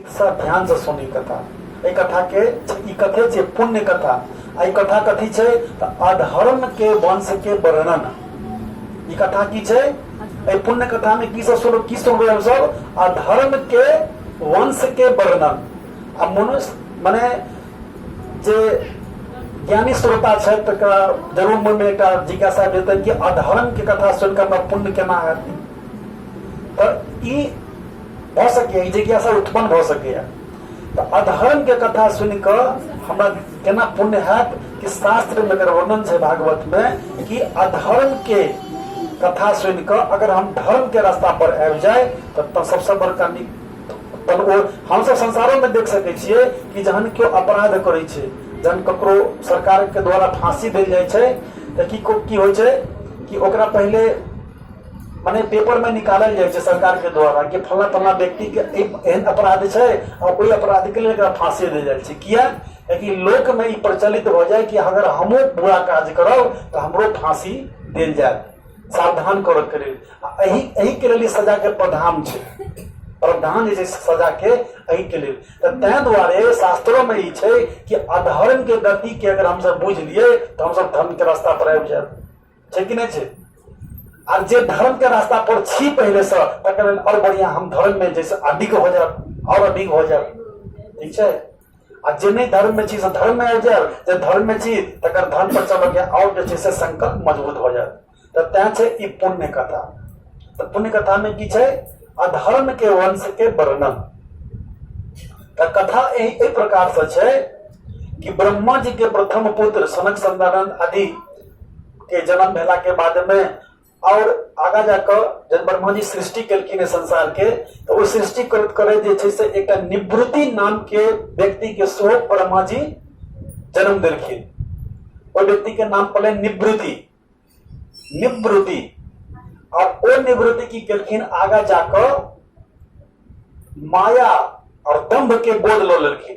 सब ध्यान से सुनी कथा एहि कथा के ई कथे छै पुण्य कथा आ ई कथा कथी छै तऽ अधर्म के वंश के वर्णन ई कथा की छै एहि पुण्य कथा में की सब सुन की सुनबै हम सब अधर्म के वंश के वर्णन आ मनुष्य मने जे ज्ञानी श्रोता छथि तकरा जरूर मन में एकटा जिज्ञासा भेटतनि कि अधर्म के कथा सुनिकऽ हमरा पुण्य केना हैत तऽ ई भऽ सकैए जिज्ञासा उत्पन्न भऽ सकैए तऽ अधर्म के कथा सुनि कऽ हमरा केना पुण्य हैत कि शास्त्र में अगर वर्णन छै भागवत में कि अधर्म के कथा सुनि कऽ अगर हम धर्म के रास्ता पर आबि जाय तऽ सबसे बड़का नीक तहन ओ हमसभ संसारोमे देख सकै छियै कि जहन केओ अपराध करै छै जहन ककरो सरकारके द्वारा फाँसी देल जाइ छै तऽ की की होइ छै कि ओकरा पहिले मने पेपर में निकालल जाइ छै सरकार के द्वारा कि फल्ला फल्ला व्यक्ति के एक एहन अपराध छै आ ओहि अपराध के लेल एकरा फांसी देल जाइ छै किया कियाकि लोक में ई प्रचलित भऽ जाय कि अगर हमहूँ बुरा काज करब तऽ हमरो फांसी देल जायत सावधान करऽ के लेल आ एहि एहि के लेल ई सजा के प्रधान छै प्रधान जे छै से सजा के एहि के लेल तऽ ताहि दुआरे शास्त्रो में ई छै कि अधर्म के गति के अगर हमसब बुझि लियै तऽ हमसब धर्म के रास्ता पर आबि जायब छै कि नहि छै आर जे धर्म के रास्ता पर छी पहले से तकर और बढ़िया हम धर्म में जैसे अधिक हो जाए और अधिक हो जाए ठीक छै आ जे नहि धर्म में छी से धर्म में आबि जाए जे धर्म में छी तकर धर्म पर चलऽ के और जे छै से संकल्प मजबूत हो जाए तऽ तैं छै ई पुण्य कथा तऽ पुण्य कथा में की छै अधर्म के वंश के वर्णन तऽ कथा एहि एहि प्रकार से छै कि ब्रह्मा जी के प्रथम पुत्र सनक संदानंद आदि के जन्म भेला के बाद में और आगा जाकर जब ब्रह्मा जी सृष्टि केलखिन है संसार के तो वो सृष्टि करत करे जे छै से एक निवृत्ति नाम के व्यक्ति के सेहो ब्रह्मा जी जन्म देलखिन ओहि व्यक्ति के नाम पड़े निवृत्ति निवृत्ति और वो निवृत्ति की केलखिन आगा जाकर माया और दम्भ के बोध लो लेलखिन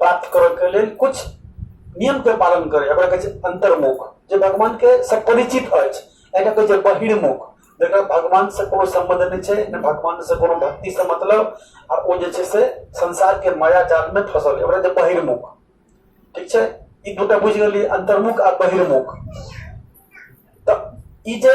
प्राप्त करय के लेल कुछ नियम के पालन करे एकरा कहै छै अंतर्मुख जे भगवान के से परिचित अछि एकरा कहै छै बहिर्मुख जकरा भगवान से कोनो संबंध नहि छै ने भगवान से कोनो भक्ति से मतलब आ ओ जे छै से संसार के माया जाल में फंसल है ओकरा जे बहिर्मुख ठीक छै ई दूटा बुझि गेलियै अंतर्मुख आ बहिर्मुख तऽ ई जे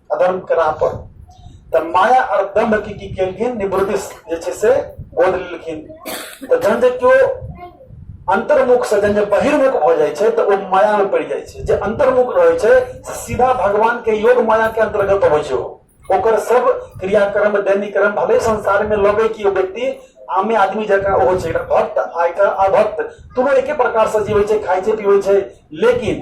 अधर्म करा पर तऽ माया आओर दम्भ की की केलखिन निवृदिस जे छै से बोध लेलखिन तऽ जहन जे केओ अंतर्मुख से जहन जे बहिर्मुख भऽ जाइ छै तऽ ओ माया में पड़ि जाइ छै जे अंतर्मुख रहै छै से सीधा भगवान के योग माया के अंतर्गत अबै छै ओकर सब क्रियाक्रम दैनिक क्रम भले संसार में लगे कि ओ व्यक्ति आमे आदमी जकाँ ओहो छै एकटा भक्त आ एकटा अभक्त दुनू एके प्रकार से जीवै छै खाइ छै पीबै छै लेकिन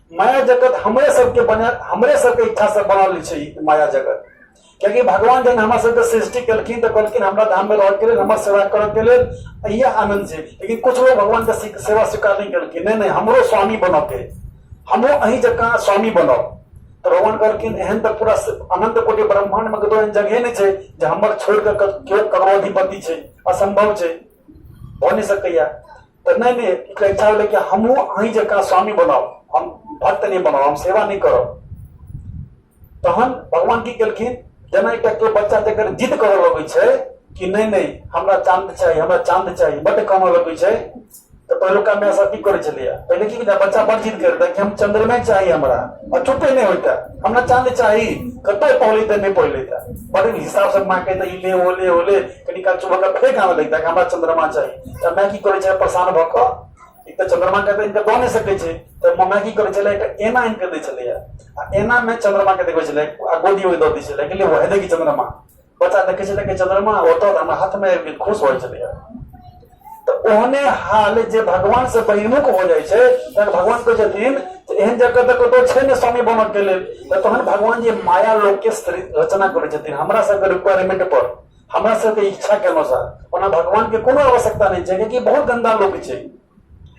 माया जगत हमरे सबके बने हमरे सबके इच्छा से बनल छै माया जगत कियाकि भगवान जन हमरा सबके सृष्टि केलखिन तऽ कहलखिन हमरा धाम में रहके लेल हमर सेवा करके लेल इहे आनंद छै लेकिन कुछ लोग भगवान के से- सेवा स्वीकार नहीं केलखिन नहीं नहीं हमरो स्वामी बनब के हमो अही जकाँ स्वामी बनब तऽ भगवान कहलखिन एहन तऽ पूरा स- अनंत कोटि ब्रह्मांड में कतौ एहन जगह नहीं छै जे हमर छोड़ के केओ ककरो अधिपति छै असंभव छै भऽ नहि सकैया तऽ नहि नहि ओकरा इच्छा भेलै कि हमहूँ अहीं जकाँ स्वामी बनाउ हम भक्त नहि बनाउ हम सेवा नहि करब तहन भगवान की केलखिन जेना एकटा केओ बच्चा जकर जिद करऽ लगै छै कि नहि नहि हमरा चांद चाही हमरा चांद चाही बड्ड कानऽ लगै छै तऽ पहिलुका माय सब की करै छलैया पहिले की होइता बच्चा बड़ जिद करता कि हम चंद्रमा चाही हमरा आ चुपे नहि होइता हमरा चांद चाही कतौ पहुलेता नहि पहुलेता बड़ हिसाब से माँ कहता ई ले ओ ले ओ ले कनि काल चुभक फेर गाना लगता है हमरा चंद्रमा चाहिए तऽ मैं की करै छै परेशान भऽ कऽ एक तऽ चंद्रमा के इनका दऽ नहि सकै छै तऽ मम्मा की करै छलै एकटा एना आनि कऽ दै छलैया आ एना मे चंद्रमा के देखबै छलै आ गोदी ओहि दऽ दै छलै कि ले वएह देखी चंद्रमा बच्चा देखै छलै कि चंद्रमा ओतऽ हमरा हाथ मे आबि कऽ खुश होइ छलैया तऽ ओहने हाल जे भगवान से बहिमुख हो जाइ छै तहन भगवान कहै छथिन जे एहन जगह तऽ कतौ छै ने स्वामी बनक के लेल तऽ तहन भगवान जे माया लोक के रचना करै छथिन हमरा सबके रिक्वायरमेंट पर हमरा सबके इच्छा के अनुसार ओना भगवान के कोनो आवश्यकता नहि छै कियाकि बहुत गंदा लोक छै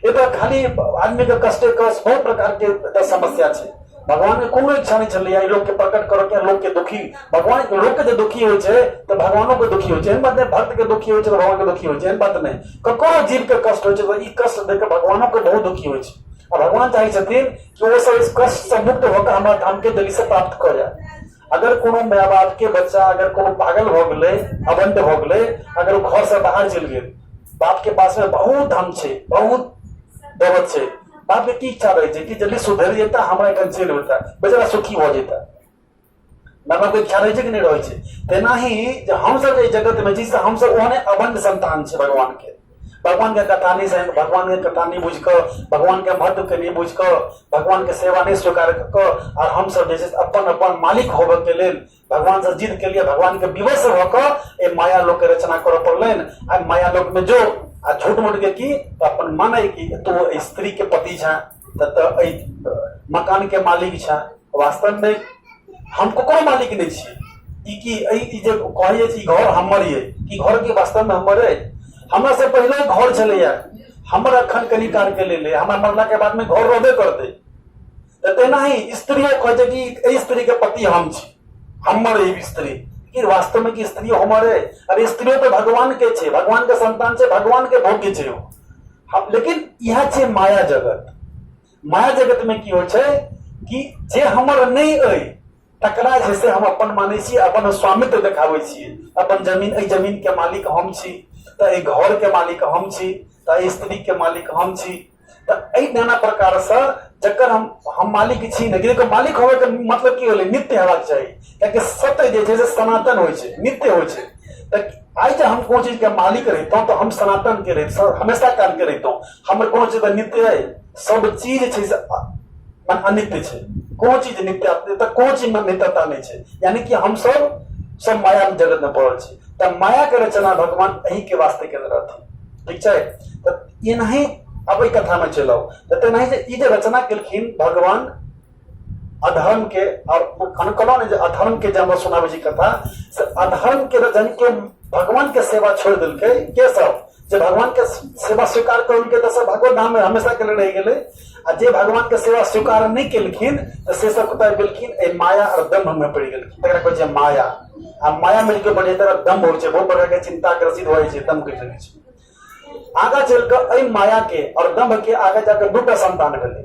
एतऽ खाली आदमी के कष्टे कष्ट बहुत प्रकार के एतऽ समस्या छै भगवान के कोनो इच्छा नहि छलैया ई लोकके प्रकट करऽ के लोकके दुखी भगवान लोकके जे दुखी होइ छै तऽ भगवानो के दुखी होइ छै एहन बात नहि भक्त के दुखी होइ छै तऽ भगवान के दुखी होइ छै एहन बात नहि ककरो जीव के कष्ट होइ छै तऽ ई कष्ट देख कऽ भगवानो के बहुत दुखी होइ छै आ भगवान चाहै छथिन कि ओ सब इस कष्ट से मुक्त होकर हमरा धाम के दिल्ली से प्राप्त कऽ जाए अगर कोनो माय बाप के बच्चा अगर कोनो पागल भऽ गेलै अबंड भऽ गेलै अगर ओ घर से बाहर चलि गेल बाप के पास में बहुत धन छै बहुत दौलत छै बाप के की इच्छा रहै छै कि जल्दी सुधरि जेता हमरा एखन चलि उठता बेचारा सुखी भऽ जेता माय बाप के इच्छा रहै छै कि नहि रहै छै तेनाही जे हमसभ एहि जगतमे छी से हमसभ ओहने अबंड संतान छै भगवान के भगवानके कथा नहि जानि भगवानके कथा नहि बुझि कऽ भगवानके महत्वके नहि बुझि कऽ भगवानके सेवा नहि स्वीकार कऽ कऽ आओर हमसभ जे छै से अपन अपन मालिक होबऽके लेल भगवानसँ जिद केलियै भगवानके विवश भऽ कऽ एहि माया लोकके रचना करऽ पड़लनि आ माया लोकमे जो आ झूठ मूठके की तऽ अपन मानै कि तू एहि स्त्रीके पति छँ तऽ तऽ एहि मकानके मालिक छँ वास्तव में हम ककरो मालिक नहीं छे ई कि ई जे कहल जाइ छै घर हमर ये कि घर के वास्तव में हमर है हमरा से पहले घर छलैया हमर अखन कनी काल के लेल है हमरा मरला के बाद में घर रहबे करते तऽ तेना ही स्त्रियो कहै छै कि एहि स्त्री के पति हम छी हमर एहि स्त्री कि वास्तव में कि स्त्री हमर है अरे स्त्रियो तो भगवान के छे भगवान के संतान छे भगवान के भोग्य छे लेकिन यह छे माया जगत माया जगत में की हो कि जे हमर नहीं अ तकरा जे से हम अपन माने छी अपन स्वामित्व देखाबे छी अपन जमीन ए जमीन के मालिक हम छी तो ए घर के मालिक हम छी तो ए स्त्री के मालिक हम छी तो ए नाना प्रकार से जकर हम हम मालिक छी ने के मालिक होवे के मतलब की होले नित्य होगा चाहिए ताकि सत्य जे छै सनातन हो छै नित्य हो छै तऽ आइ जे हम कोइ चीजके मालिक रहितहुँ तऽ हम सनातनके रहितहुँ हमेशा कालके रहितहुँ हमर कोनो चीज नित्य है सब चीज छै से अनित्य छै कोनो चीज नित्य तऽ कोनो चीज में नित्यता नहीं छै यानी कि हम सब सब माया जगत में पड़ल छी तऽ माया के रचना भगवान एही के वास्ते केने रहथिन ठीक छै तऽ एनाही अब एहि कथा में चलि आउ तऽ तेनाही जे ई जे रचना केलखिन भगवान अधर्म के और अनकलो ने जे अधर्म के जे हमरा सुनाबे छी कथा से अधर्म के जन के भगवान के सेवा छोड़ दिल के के सब जे भगवान के सेवा स्वीकार कर उनके तो सब भगवत धाम में हमेशा के लिए रह गेले आ जे भगवान के सेवा स्वीकार नहीं केलखिन तो से सब कतय गेलखिन ए माया और दम्भ में पड़ गेलखिन तकरा कहै छै माया आ माया में के बढ़े तरह दम्भ होइ छै बहुत प्रकार के चिंता ग्रसित होइ छै दम्भ के चलै छै आगा चल के एहि माया के और दम्भ के आगे जाकर दूटा संतान भेलै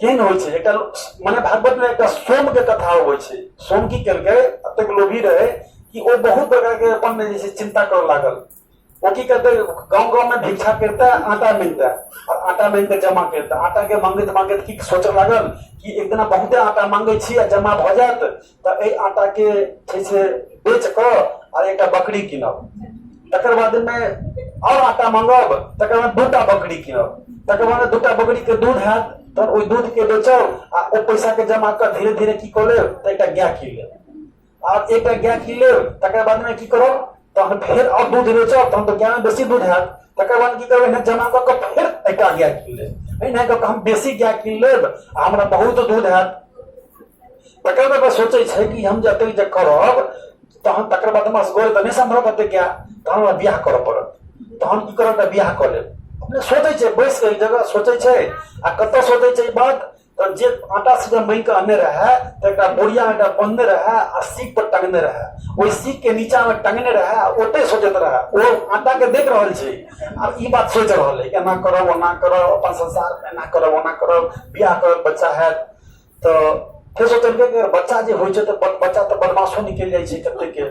केहन होइ छै एकटा मने भागवत में एकटा सोम के कथा अबै छै सोम की केलकै अतेक लोभी रहे कि ओ बहुत बड़का के अपन में जैसे चिंता कर लागल ओ की करते गांव गांव में भिक्षा करता आटा मिलता और आटा मिल के जमा करता आटा के मांगत मांगत की सोच लागल कि एक दिन बहुत आटा मांगे छी आ जमा भ जात तऽ एहि आटा के छै से बेच कऽ आर एकटा बकरी कीनब तकर बाद मे आओर आटा मंगब तकर बाद दूटा बकरी कीनब तकर बाद दूटा बकरी के दूध हैत तहन ओहि दूध के बेचब आ ओ पैसा के जमा कऽ धीरे धीरे की कऽ लेब तऽ एकटा गाय कीन लेब आब एकटा गाय कीन लेब तकर बाद मे की करब तहन फेर आओर दूध बेचब तहन तऽ ज्ञान बेसी दूध हैत तकर बाद की करब एहन जमा कऽ कऽ फेर एकटा गाय कीन लेब एहिना कऽ कऽ हम बेसी गाय कीन लेब आ हमरा बहुत दूध हैत तकर बाद सोचै छै कि हम जतेक जे करब तहन तकर बाद हमरा सगोरे तऽ नहि सम्भव हेतै गाय तहन हमरा बियाह करऽ पड़त तहन की करब तऽ बियाह कऽ लेब अपने सोचै छै बैस कऽ एक जगह सोचै छै आ कतऽ सोचै छै ई बात तऽ जे आटा सीधा मांगि कऽ अनने रहए तऽ एकटा बोरिया एकटा बन्हने रहए आ सीख पर टंगने रहए ओहि सीख के नीचा मे टंगने रहए आ ओतै सोचैत रहए ओ आटा के देख रहल छै आ ई बात सोचि रहल है एना करब ओना करब अपन संसार मे एना करब ओना करब बियाह करब बच्चा हैत तऽ फेर सोचलकै कि बच्चा जे होइ छै तऽ बच्चा तऽ बदमाशो निकलि जाइ छै कते के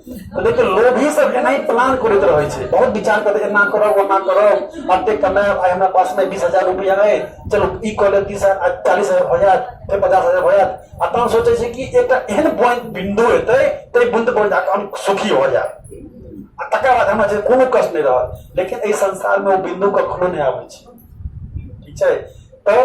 लेकिन लोभी सब एना प्लान करते रहे छे बहुत विचार करते एना करो ओना करो अते कमाए आइ हमरा पास में बीस हजार रुपया है चलो ई कऽ ले तीस हजार चालीस हजार हो जात फिर पचास हजार हो जात आ तहन सोचे छे कि एक एहन पॉइंट बिंदु हेतै ते बुंद पर जाकर हम सुखी हो जात आ तकर बाद हमरा जे कोनो कष्ट नहीं रहत लेकिन एहि संसार में ओ बिंदु कखनो नहीं आबै छै ठीक छै तऽ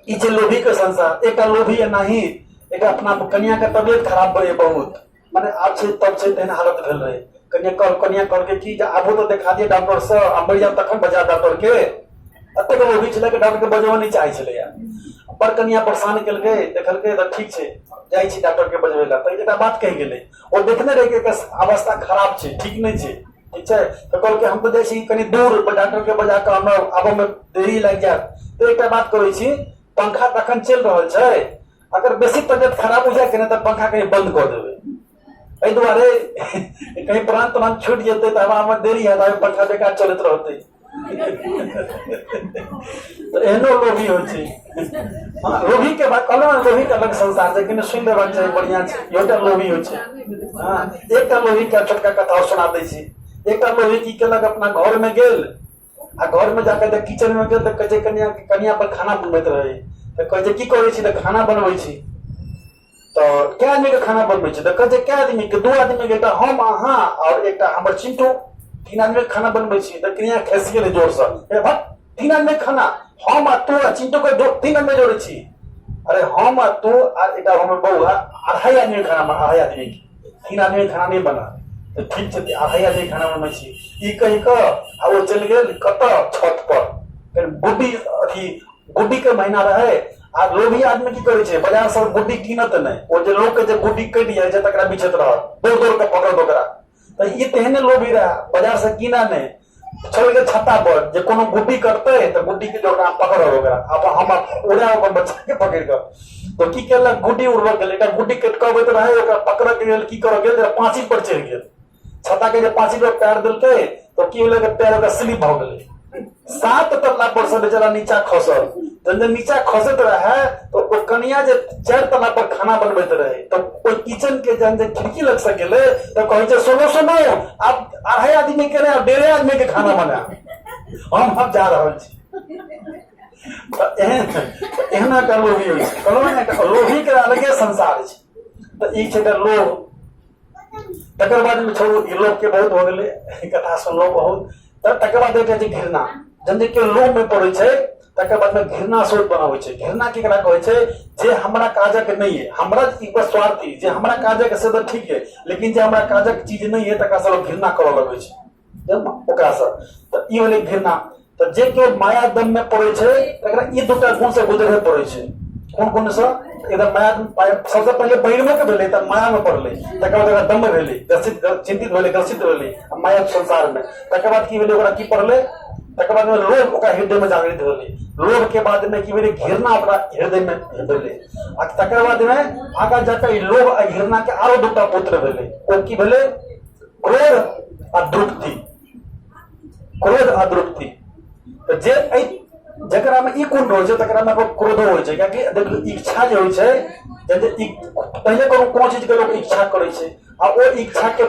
ई छै लोभी के संसार एकटा लोभी एनाही एकटा अपना कनिया के तबियत खराब भए बहुत माने आब छै तब छै तेहन हालत भेल रहै कनिया कह कनिया कहलकै कि जे आबो तऽ देखा दिए डॉक्टरसँ आ मरि जायब तखन बजा डॉक्टरके एतेक अभी छलै कि डॉक्टरके बजबऽ नहि चाहै छलैए बड़ कनिया परेशान केलकै देखलकै तऽ ठीक छै जाइ छी डॉक्टरके बजबै लए तऽ एकटा बात कहि गेलै ओ देखने रहै कि एकर अवस्था खराब छै ठीक नहि छै ठीक छै तऽ कहलकै हम तऽ जाइ छी कनि दूर डॉक्टरके बजा कऽ हमरा आबऽमे देरी लागि जायत तऽ एकटा बात कहै छी पंखा तखन चलि रहल छै अगर बेसी तबियत खराब हो जाए कि तऽ पंखा कहीं बंद कऽ देबै एहि दुआरे कहीं प्राण त्राण छूटि जेतै तऽ हमरा हमर देरी है तऽ पंखा बेकार चलैत रहतै तऽ एहनो लोभी होइ छै हँ लोभीके बात कहलहुँ ने लोभीके अलग संसार छै कनि सुनि लेबाक चाही बढ़िआँ छै इहोटा लोभी होइ छै हँ एकटा लोभीके छोटका कथा सुना दै छी एकटा लोभी की केलक अपना घरमे गेल आ घर में जाकर तऽ किचन में गेल तऽ कहै छै कनिया कनिया पर खाना बनबैत रहै तऽ कहै छै की करै छी तऽ खाना बनबै छी तऽ कए आदमी के खाना बनबै छी तऽ कहै छै कए आदमी के दू आदमी के तऽ हम अहाँ और एकटा हमर चिंटू तीन आदमी के खाना बनबै छी तऽ कनिया खेस गेलै जोर से ए भट तीन आदमी के खाना हम आ तू आ चिंटू के दो- तीन आदमी जोड़ै छी अरे हम आ तू आ एकटा हमर बौआ अढ़ाई आदमी के खाना बना- अढ़ाई आदमी के तीन आदमी खाना नहि बना तऽ ठीक छै अढ़ाई आदमी खाना बनबै छी ई कहि कऽ आ ओ चलि गेल कतऽ छत पर फेर गुड्डी अथी गुड्डी के महीना रहै आ लोभी आदमी की करै छै बाजार से गुड्डी कीनत नहि ओ जे लोक के जे गुड्डी कटि जाइ छै तकरा बिछैत रहत दौड़ दौड़ के पकड़त ओकरा तऽ ई तेहने लोभी रहै बाजार से कीना नहि छड़ी के छत्ता पर जे कोनो गुड्डी करते तऽ गुड्डी के जो पकड़ ओकरा अब हम उड़ा अपन बच्चा के पकड़ के तो की केलक गुड्डी उड़बऽ गेल एकटा गुड्डी कट के अबैत रहे ओकरा पकड़ के लेल की करऽ गेल पाँची पर चढ़ि गेल छत्ता के जे पाँची पर पैर देलकै तो की होलै पैर ओकरा स्लिप भऽ गेलै सात तल्ला पर से बेचारा नीचा खसल जब जब नीचा खसैत रहे तो ओ कनिया जे चारि तल्ला पर खाना बनबैत रहे तो ओहि किचन के जहन जे खिड़की लग से गेलै तो कहै छै सुनो सुनो आब अढ़ाई आदमी के रहे डेढ़े आदमी के खाना बना हम हम जा रहा छी एहना कर लोभी होइ छै कहलहुँ ने लोभी के अलगे संसार छै तऽ ई छै तऽ लोभ तकर बाद छोड़ू ई लोभ के बहुत हो गेलै कथा सुनलहुँ बहुत तऽ तकर बाद एकटा छै घृणा जहन जे केओ लोभमे पड़ै छै तकर बाद में घृणा सोच बनावे छे घृणा केकरा कहे छे जे हमरा काजक नहीं है हमरा ई बस स्वार्थी जे हमरा काजक से तो ठीक है लेकिन जे हमरा काजक चीज नहीं है तकरा से लोग घृणा करऽ लगे छे जब ओकरा से तो ई होले घृणा तो जे केओ माया दम में पड़े छे तकरा ई दूटा गुण से गुजरे पड़े छे कोन कोन से एकदम माया दम पाय- सबसे पहले बहिर्मे के भेलै तऽ माया में पड़लै तकर बाद ओकरा दम में भेलै ग्रसित चिंतित भेलै ग्रसित भेलै आ माया संसार में तकर बाद की भेलै ओकरा की पड़लै तकर बाद लोभ ओकरा हृदय में जागृत होलै लोभ के बाद में की भेलै घृणा ओकरा हृदय में भेलै आ तकर बाद में आगा जाकर लोभ आ घृणा के आरो दूटा पुत्र भेलै ओ की भेलै क्रोध आ द्रुप्ति क्रोध आ द्रुप्ति तो जे जकरा में ई गुण रहै छै तकरा में क्रोधो होइ छै कियाकि देखियौ इच्छा जे होइ छै पहिले कोनो कोनो चीजके लोक इच्छा करै छै आ ओ इच्छाके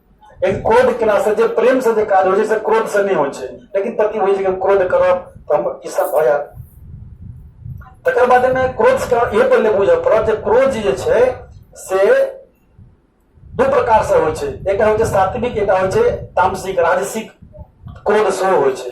लेकिन क्रोध केला से जे प्रेम से जे काज होइ छै से क्रोध से नहि होइ छै लेकिन पति होइ छै क्रोध करब तऽ हम ई सब भऽ जायत तकर बाद मे क्रोध के इहो पहिले बुझऽ पड़त जे क्रोध जे छै से दू प्रकार से होइ छै एकटा होइ छै सात्विक एकटा होइ छै तामसिक राजसिक क्रोध सेहो होइ छै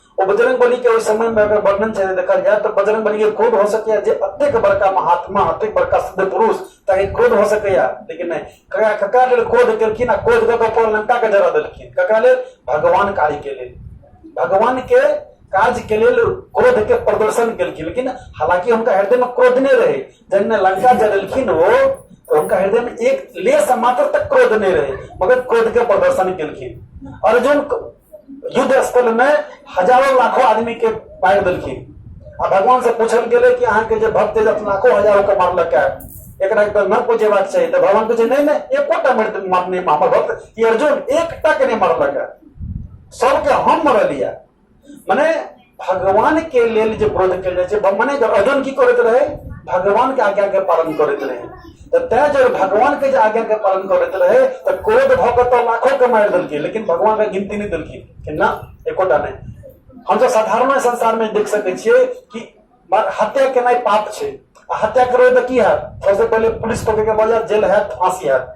ओ बजरंग बली के ओहि समय में अगर वर्णन से देखल जाए तो बजरंग बली के क्रोध हो सके जे अत्यक बड़का महात्मा अत्यक बड़का सिद्ध पुरुष तक क्रोध हो सके लेकिन नहीं ककरा ककरा लेल क्रोध केलखिन आ क्रोध कऽ कऽ लंका के जरा देलखिन ककरा लेल भगवान कार्य के लेल भगवान के काज के लेल क्रोध के प्रदर्शन केलखिन लेकिन हालांकि उनका हृदय में क्रोध नहीं रहे जन लंका जलेलखिन वो तो उनका हृदय में एक लेस मात्र तक क्रोध नहीं रहे मगर क्रोध के प्रदर्शन केलखिन अर्जुन युद्ध स्थल में हजारों लाखों आदमी के मारि देलखिन आ भगवान से पूछल गेले कि अहाँ के जे भक्त जे लाखों हजारों के मारलक है एकरा के न पूजेबाक चाहिए तो भगवान पूछे नहीं नहीं एकोटा मर- मार नहीं हमर भक्त कि अर्जुन एकटा के नहीं मारलक है सबके हम मरलिया मने भगवान के लेल जे व्रत कयल जाइ छै मने जब अर्जुन की करैत रहे भगवान के आज्ञा के पालन करैत रहे तऽ तैं जब भगवान के जे आज्ञा के पालन करैत रहे तऽ क्रोध भऽ कऽ तऽ लाखो के मारि देलखिन लेकिन भगवान के गिनती नहि देलखिन कि ना एकोटा नहि हमसभ साधारण संसार में देख सकै छियै कि मर- हत्या केनाइ पाप छै आ हत्या करबै तऽ की हैत सबसे पहिले पुलिस पकड़ के बजात जेल हैत फांसी हैत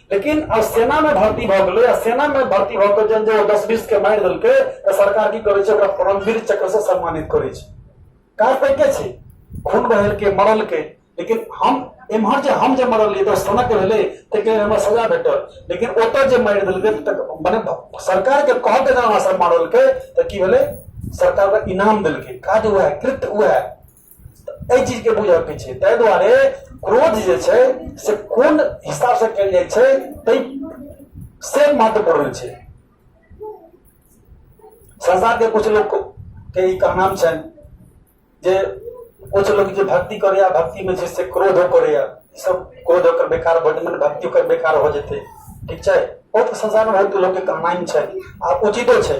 लेकिन अब सेना में भर्ती भऽ गेलै आ सेना में भर्ती भऽ कऽ जहन जे ओ दस बीस के मारि देलकै तऽ सरकार की करै छै ओकरा परमवीर चक्र से सम्मानित करै छै काज तऽ एके छै खून बहेलकै मरलकै लेकिन हम एम्हर जे हम जे मरलियै तऽ सनक भेलै ताहिके लेल हमरा सजा भेटल लेकिन ओतऽ जे मारि देलकै तऽ मने सरकारके कहके जहन हमरा सब मारलकै तऽ की भेलै सरकार ओकरा इनाम देलकै काज उएह कृत्य उएह एहि चीज के बुझय के छै ताहि दुआरे क्रोध जे छै से कोन हिसाब से कयल जाइ छै ताहि से महत्वपूर्ण छै संसार के कुछ लोग के ई कहनाम छनि जे कुछ लोग जे भक्ति करैया भक्ति में छै से क्रोधो करैया ई सब क्रोध ओकर बेकार भऽ जेतै भक्ति ओकर बेकार हो जेतै ठीक छै बहुत संसार में बहुत लोग के कहनाम छै आ उचितो छै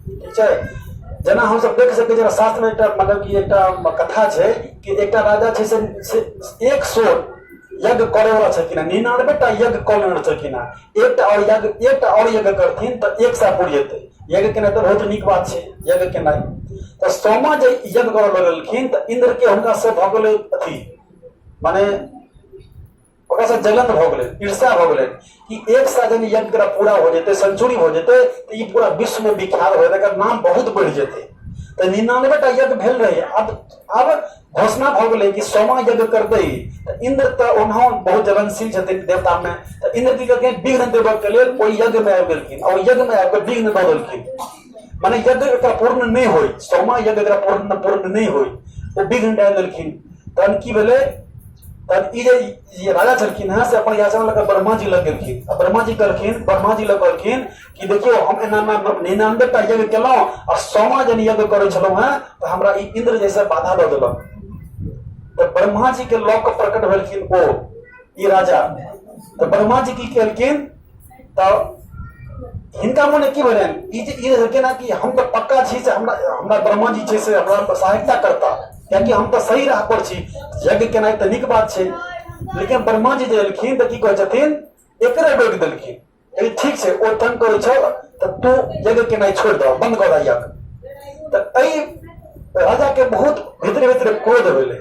ठीक छै जेना हमसभ देख सकै छियै शास्त्रमे एकटा मतलब कि एकटा कथा छै कि एकटा राजा छै से एक सौ यज्ञ करे वाला छलखिन हेँ निनानबे टा यज्ञ कऽ लेने छलखिन हेँ एकटा आओर यज्ञ एकटा आओर यज्ञ करथिन तऽ एक सए पूरी हेतै यज्ञ केनाइ तऽ बहुत नीक बात छै यज्ञ केनाइ तऽ सोमा जे यज्ञ करऽ लगलखिन तऽ इन्द्रके हुनका से भऽ गेलै अथी माने ओकरा से जलन भऽ गेलै ईर्ष्या भऽ गेलै कि एक साल जब यज्ञ करा पूरा हो जेतै सेंचुरी हो जेतै तऽ ई पूरा विश्व में विख्यात हो जेतै एकर नाम बहुत बढ़ि जेतै तऽ निन्यानवे टा यज्ञ भेल रहै आब आब घोषणा भऽ गेलै कि सोमा यज्ञ करतै तऽ इंद्र तऽ ओनाहो बहुत जलनशील छथिन देवता में तऽ इंद्र की कहलखिन विघ्न देबऽ के लेल ओहि यज्ञ में आबि गेलखिन आओर यज्ञ में आबि कऽ विघ्न दऽ देलखिन माने यज्ञ एकरा पूर्ण नहि होय सोमा यज्ञ एकरा पूर्ण पूर्ण नहि होय ओ विघ्न डालि देलखिन तहन की भेलै तहन ई जे जे राजा छलखिन हँ से अपन याचना लऽ कऽ ब्रह्मा जी लग गेलखिन आ ब्रह्मा जी कहलखिन ब्रह्मा जी लग कहलखिन कि देखियौ हम एना एना निन्यानबे टा यज्ञ केलहुँ आ सौमा जन यज्ञ करै छलहुँ हेँ तऽ हमरा ई इंद्र जैसे बाधा दऽ देलक तऽ ब्रह्मा जी के लऽ कऽ प्रकट भेलखिन ओ ई राजा तऽ ब्रह्मा जी की केलखिन तऽ हिनका मने की भेलै ई जे ई रहलकै ने कि हम तऽ पक्का छी से हमरा हमरा ब्रह्मा जी छै से हमरा सहायता करता कियाकि हम तऽ सही राह पर छी यज्ञ केनाइ तऽ नीक बात छै लेकिन ब्रह्मा जी जे एलखिन तऽ की कहै छथिन एकरे रोकि देलखिन ठीक छै ओ तंग करै छल तऽ तू जगह के नहीं छोड़ दो बंद कर आइया तऽ एहि राजा के बहुत भीतर भीतर क्रोध होले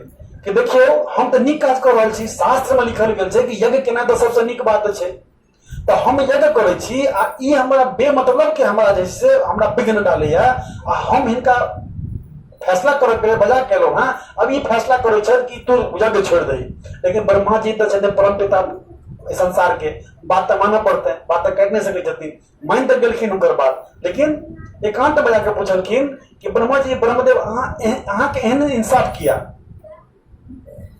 कि देखियो हम तऽ नीक काज कर रहल छी शास्त्र में लिखल गेल छै कि यज्ञ केना तऽ सबसे नीक बात छै तऽ हम यज्ञ करै छी आ ई हमरा बेमतलब के हमरा जे से हमरा विघ्न डालैए आ हम हिनका फैसला करऽ के बजा केलहुँ हँ अब ई फैसला करै छथि कि तू यज्ञ छोड़ि दही लेकिन ब्रह्मा जी तऽ छथिन परम पिता एहि संसार के बात तो माना पड़ते हैं बात तो कह नहीं सके जतिन मन तक गलखिन उनकर बात लेकिन एकांत बजा के पूछलखिन कि ब्रह्मा जी ब्रह्मदेव अहाँ एह- अहाँ के एहन इंसाफ किया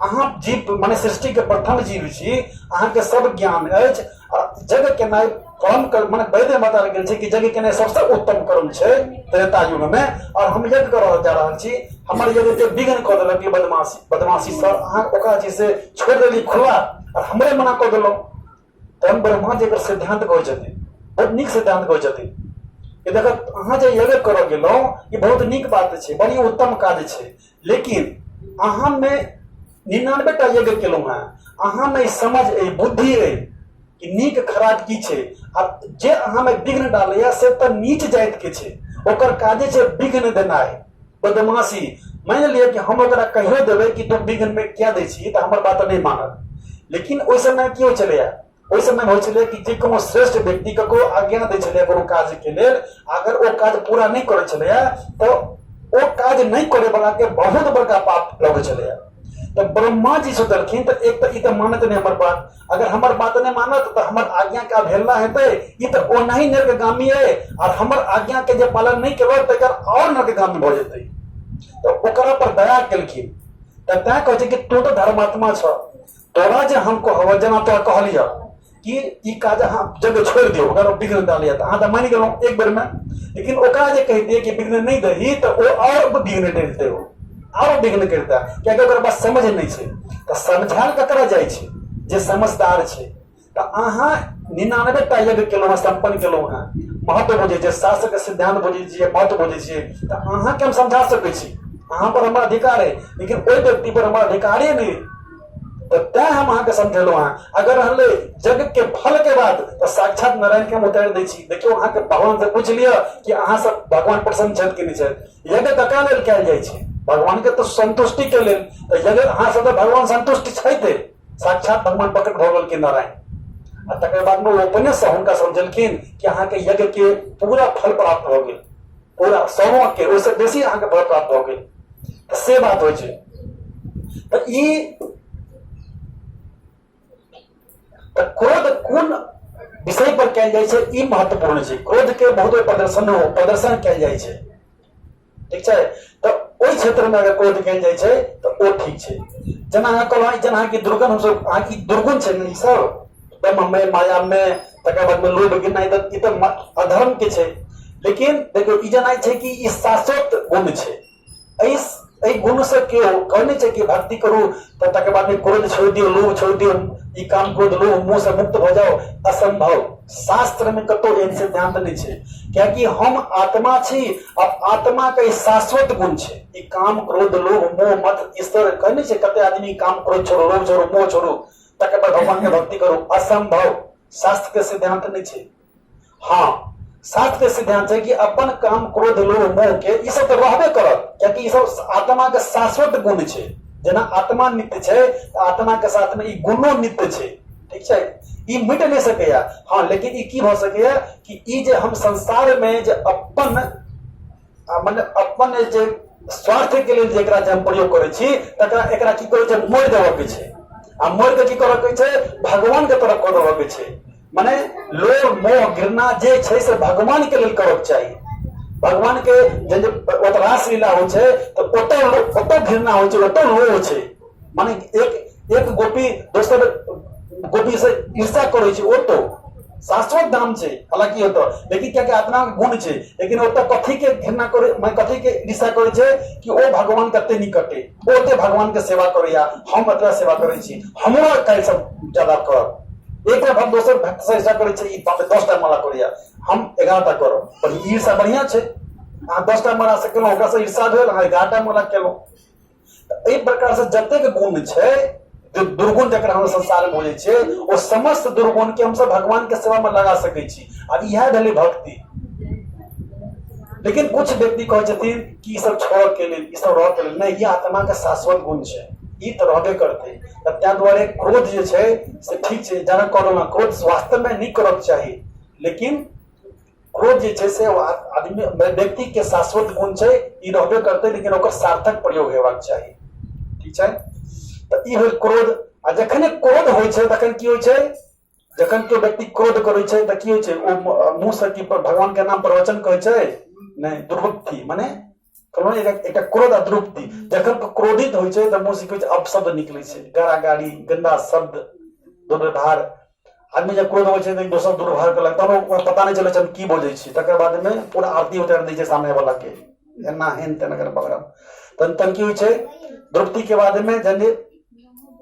अहाँ जीव माने सृष्टि के प्रथम जीव छी अहाँ के सब ज्ञान अछि आ जग के नाय परम कर्म माने वैद्य माता लग गेल छै कि जग के नाय सबसे उत्तम कर्म छै त्रेता युग में और हम यज्ञ कर रहल जा रहल छी हमर यज्ञ के विघ्न कऽ देलक ई बदमाशी बदमाशी सर अहाँ ओकरा जे छै से छोड़ि देली खुला आ हमरे मना कऽ देलहुँ तहन ब्रह्मा जी एकर सिद्धांत कहै छथिन बहुत नीक सिद्धांत कहै छथिन कि देखत अहाँ जे यज्ञ करऽ गेलहुँ ई बहुत नीक बात छै बड़ी उत्तम काज छै लेकिन अहाँमे निन्यानबे टा यज्ञ केलहुँ हेँ अहाँमे ई समझ अइ बुद्धि अइ कि नीक खराब की छै आ जे अहाँमे विघ्न डालैए से तऽ नीच जातिके छै ओकर काजे छै विघ्न देनाइ बदमाशी मानि लिअ कि हम ओकरा कहियो देबै कि तुम बिघन में क्या दै छी तऽ हमर बात नहि मानत लेकिन ओहि समय की होइ छलैया ओहि समय होइ छलै कि जे कोनो श्रेष्ठ व्यक्ति ककरो आज्ञा दै छलैया कोनो काजके लेल अगर ओ काज पूरा नहि करै छलैया तऽ ओ काज नहि करे वाला के बहुत बड़का पाप लगै छलैया तऽ ब्रह्मा जी सोचलखिन तऽ एक तऽ ई तऽ मानत नहि हमर बात अगर हमर बात नहि मानत तऽ हमर आज्ञा के अवहेलना हेतै ई तऽ ओनाही नर्कगामी अइ आर हमर आज्ञा के जे पालन नहि केलक तकर आओर नर्कगामी भऽ जेतै तऽ ओकरा पर दया केलखिन तऽ तैं कहै छै कि तू तऽ धर्मात्मा छ तोरा जे हम कहब जेना तोरा कहलियह कि ई काज अहाँ जगह छोड़ि दियौ अगर विघ्न डालैया तऽ अहाँ तऽ मानि गेलहुँ एक बेरमे लेकिन ओकरा जे कहि दियै कि विघ्न नहि दही तऽ ओ आओर विघ्न डलितै ओ आरो विघ्न करिता कियाकि ओकर पास समझ नहि छै तऽ समझायल ककरा जाइ छै जे समझदार छै तऽ अहाँ निनानबे टा यज्ञ केलहुँ हेँ सम्पन्न केलहुँ हेँ महत्व बुझै छियै शास्त्रके सिद्धान्त बुझै छियै महत्व बुझै छियै तऽ अहाँके हम समझा सकै छी अहाँ पर हमर अधिकार अइ लेकिन ओहि व्यक्ति पर हमर अधिकारे नहि अइ। तऽ तैं हम अहाँके समझेलहुँ हेँ अगर रहलै यज्ञके फलके बात तऽ साक्षात नारायणके हम उतारि दै छी देखियौ अहाँके भगवानसँ पूछि लिअ कि अहाँसँ भगवान प्रसन्न छथि कि नहि छथि यज्ञ ककरा लेल कयल जाइ छै भगवान के तो संतुष्टि के लेल तऽ यज्ञ अहाँ सब भगवान संतुष्ट छथि साक्षात भगवान प्रकट भऽ गेलखिन नारायण आ तकर बाद में ओ अपने से हुनका समझलखिन कि अहाँ के यज्ञ के पूरा फल प्राप्त भऽ गेल पूरा सौवा के ओहिसँ बेसी अहाँ के फल प्राप्त भऽ गेल तऽ से बात होइ छै तऽ ई तऽ क्रोध कोन विषय पर कयल जाइ छै ई महत्वपूर्ण छै क्रोध के बहुत प्रदर्शन हो प्रदर्शन कयल जाइ छै ठीक छै तऽ ओहि क्षेत्र मे अगर क्रोध कयल जाइ छै तऽ ओ ठीक छै जेना अहाँ कहलहुँ जेना अहाँके दुर्गुण हमसभ अहाँके दुर्गुण छै ने ई सब ब्रह्ममे मायामे तकर बादमे लोभ गिरनाइ तऽ ई तऽ अधर्म के छै लेकिन देखियौ ई जेना छै कि ई शाश्वत गुण छै एहि एहि गुण से केओ कहै नहि छै कि भक्ति करू तऽ तकर बाद क्रोध छोड़ि दियौ लोभ छोड़ि दियौ ई काम क्रोध लोभ मुँह से मुक्त भऽ जाउ असंभव शास्त्र में कतौ एहन सिद्धांत नहि छै कियाकि हम आत्मा छी आ आत्मा के शाश्वत गुण छै ई काम क्रोध लोभ मोह मत ईश्वर कहै नहि छै कते आदमी काम क्रोध छोड़ो लोभ छोड़ो मोह छोड़ो तकर बाद भगवान के भक्ति करू असंभव शास्त्र के सिद्धांत नहि छै हँ सात के सिद्धांत है कि अपन काम क्रोध लोभ मोह के ई सब तो रहबे करत कियाकि ई सब आत्मा के शाश्वत गुण छै जेना आत्मा नित्य छै तऽ आत्मा के साथ में ई गुणो नित्य छै ठीक छै ई मिट नहि सकैया हँ लेकिन ई की भऽ सकैया कि ई जे हम संसार में जे अपन मने अपन जे स्वार्थके लेल जे एकरा जे हम प्रयोग करै छी तकरा एकरा की करै छै मोड़ि देबऽके छै आ मोड़ि कऽ की करऽके छै भगवानके तरफ कऽ देबऽके छै मने लोभ मोह घृणा जे छै से भगवानके लेल करऽके चाही भगवानके जे ओतऽ रासलीला होइ छै तऽ ओतऽ ओतऽ घृणा होइ छै ओतऽ लोभ छै माने एक एक गोपी दोसर गोपी से ईर्षा करै छै ओ तो शाश्वत धाम छै हालांकि ओतऽ लेकिन कियाकि आत्मा के गुण छै लेकिन ओतऽ कथी के घृणा करे माने कथी के ईर्षा करे छै कि ओ भगवान कते निकटे ओ ओते भगवान के सेवा करैया हम एतबा सेवा करै छी हमरा काल्हि से ज्यादा कर एक भक्त दोसर भक्त से ईर्षा करे छै ई बाप रे, दस टा माला करैया हम एगारह टा करब पर ई ईर्षा बढ़िया छै अहाँ दस टा माला से केलहुँ ओकरा से ईर्षा भेल अहाँ एगारह टा माला केलहुँ एहि प्रकार से जतेक गुण छै जे दुर्गुण जकरा हम संसार बोलै छै ओ समस्त दुर्गुण के हमसब भगवान के सेवा में लगा सकै छी आब इएह भेलै भक्ति लेकिन कुछ व्यक्ति कहै छथिन कि ई सब छोड़ के लेल ई सब रह के लेल नहि ई आत्मा के शाश्वत गुण छै ई तऽ रहबे करतै तऽ ताहि दुआरे क्रोध जे छै से ठीक छै जेना कहलहुँ हेँ क्रोध वास्तवमे नहि करयके चाही लेकिन खोज जे छै से आदमी व्यक्ति के शाश्वत गुण छै ई रहबे करते लेकिन ओकर सार्थक प्रयोग हेबाक चाही ठीक छै तऽ ई होल क्रोध आ जखने क्रोध होइ छै तखन की होइ छै जखन केओ व्यक्ति क्रोध करै छै तऽ की होइ छै ओ मुँह से की भगवान के नाम प्रवचन कहै छै नहि दुर्वृत्ति मने कहलहुँ एकटा एकटा क्रोध अतृप्ति जखन क्रोधित होइ छै तऽ मुँहसँ किछु अपशब्द निकलै छै गारा गाड़ी गन्दा शब्द दुर्व्यवहार आदमी जब क्रोध होइ छै तऽ एक दोसर दुर्व्यवहार कयलक तहन ओकरा पता नहि चलै छै हम की बजै छी तकर बादमे पूरा आरती उतारि दै छै सामनेवलाके एना हेन तेन अगर बगरम तहन तहन की होइ छै द्रौपदीके बादमे जहन जे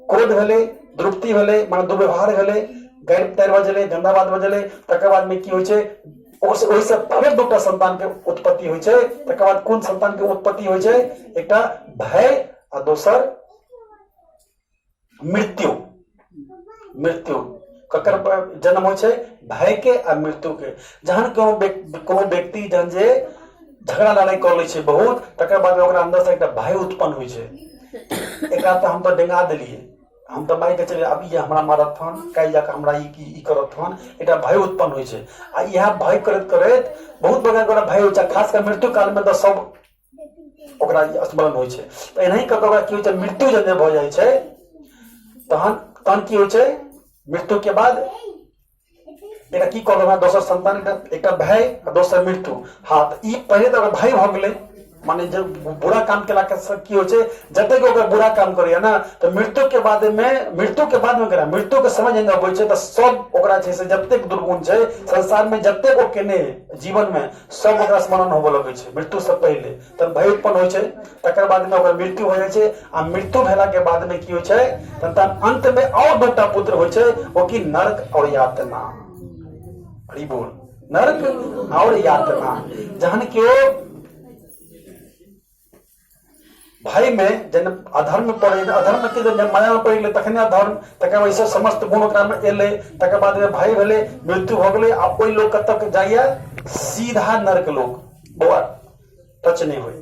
क्रोध भेलै द्रुप्ति भेलै माने दुर्व्यवहार भेलै गारि तारि बजलै गंदा बात बजलै तकर बादमे की होइ छै ओहिसँ फेर दूटा संतानके उत्पत्ति होइ छै तकर बाद कोन संतानके उत्पत्ति होइ छै एकटा भय आ दोसर मृत्यु मृत्यु ककर जन्म होइ छै भयके आ मृत्युके जहन कोनो कोनो व्यक्ति जहन जे झगड़ा लड़ाइ कऽ लै छै बहुत तकर बाद ओकरा अन्दरसँ एकटा भय उत्पन्न होइ छै एकरा तऽ हम तऽ डेंगा देलियै हम तऽ मारिके चलि आब ई हमरा मारत हन काल्हि जाकऽ हमरा ई की ई करत हन एकटा भय उत्पन्न होइ छै आ इएह भय करैत करैत बहुत बड़का बड़का भय होइ छै खास कऽ मृत्यु कालमे तऽ सब ओकरा ई स्मरण होइ छै तऽ एनाही कऽ कऽ ओकरा की होइ छै मृत्यु जब जे भऽ जाइ छै तहन तहन की होइ छै मृत्युके बाद एकटा की कहलहुँ हेँ दोसर संतान एकटा एकटा भय आ दोसर मृत्यु हँ तऽ ई पहिले तऽ ओकर भय भऽ गेलै मने जे बुरा काम केलाके से की होइ छै जतेक ओकर बुरा काम करैए ने तऽ मृत्युके बादमे मृत्युके बादमे केना मृत्युके समय जहन अबै छै तऽ सभ ओकरा छै से जतेक दुर्गुण छै संसारमे जतेक ओ केने अइ जीवनमे सभ ओकरा स्मरण होबय लगै छै मृत्युसँ पहिले तऽ भरि उत्पन्न होइ छै तकर बाद मे ओकर मृत्यु हो जाइ छै आ मृत्यु भेला के बाद मे की होइ छै तथा अंत मे और दूटा पुत्र होइ छै ओ की नरक और यातना हरि बोल नरक और यातना जहन के भाई मे जन अधर्म पड़े अधर्म के जन माया में पड़े तखने अधर्म तक वैसे समस्त गुण ओकरा में एले तकर बाद में भाई भेले मृत्यु हो गए आ कोई लोग कब तक जाइए सीधा नरक लोग बौआ टच नहि होइ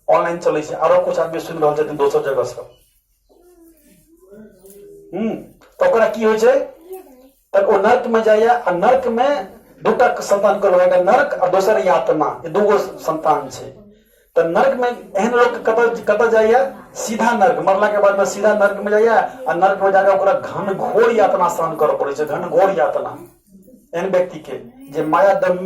ऑनलाइन चलै छै आरो कुछ आदमी सुनि रहल छथिन दोसर जगह से हूँ तऽ ओकरा की होइ छै तऽ ओ नर्क में जाइए आ नर्क में दूटा संतान कल एगो नर्क आ दोसर यात्रा ई दूगो संतान छै तऽ नर्क में एहन लोक कतऽ कतऽ जाइए सीधा नर्क मरला के बाद में सीधा नर्क में जाइए आ नर्क में जाकर ओकरा घनघोर यातना सहन करऽ पड़ै छै घनघोर यातना एहन व्यक्ति के जे माया दम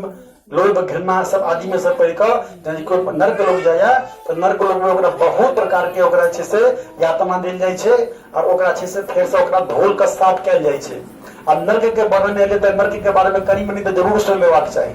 लोभ घृणा सब आदि में सब पढ़ कऽ यदि कोई नर्क लोग जाया तो नर्क लोग में ओकरा बहुत प्रकार के ओकरा छै से यातना देल जाइ छै और ओकरा छै से फेर से ओकरा धोल के साफ कयल जाइ छै आ नर्क के वर्णन एले तऽ नर्क के बारे में कनी मनी तऽ जरूर सुन लेबाक चाही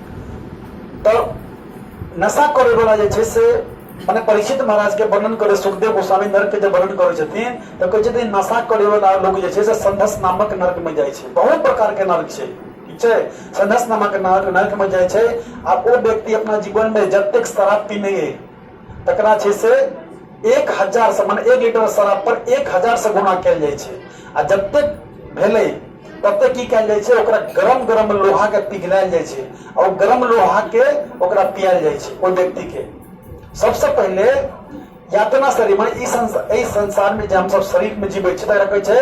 तऽ नशा करे वाला जे छै से मने परीक्षित महाराज के वर्णन करे सुखदेव गोस्वामी नर्क के जब वर्णन करे छथिन तऽ कहै छथिन नशा करे वाला लोग जे छै से संधस नामक नर्क में जाइ छै बहुत प्रकार के नर्क छै ठीक छै संधस नामक नर्क नर्क में जाइ छै आ ओ व्यक्ति अपना जीवन में जतेक शराब पीने तकरा छै से एक हजारसँ मने एक लीटर शराब पर एक हजारसँ गुना कयल जाइ छै आ जतेक भेलै ततेक की कयल जाइ छै ओकरा गरम गरम लोहाके पिघलायल जाइ छै आ ओ गरम लोहाके ओकरा पियाल जाइ छै ओहि व्यक्तिके सबसँ पहिले यातना शरीर मने ई संसार एहि संसारमे जे हमसभ शरीरमे जीबै छी तकरा कहै छै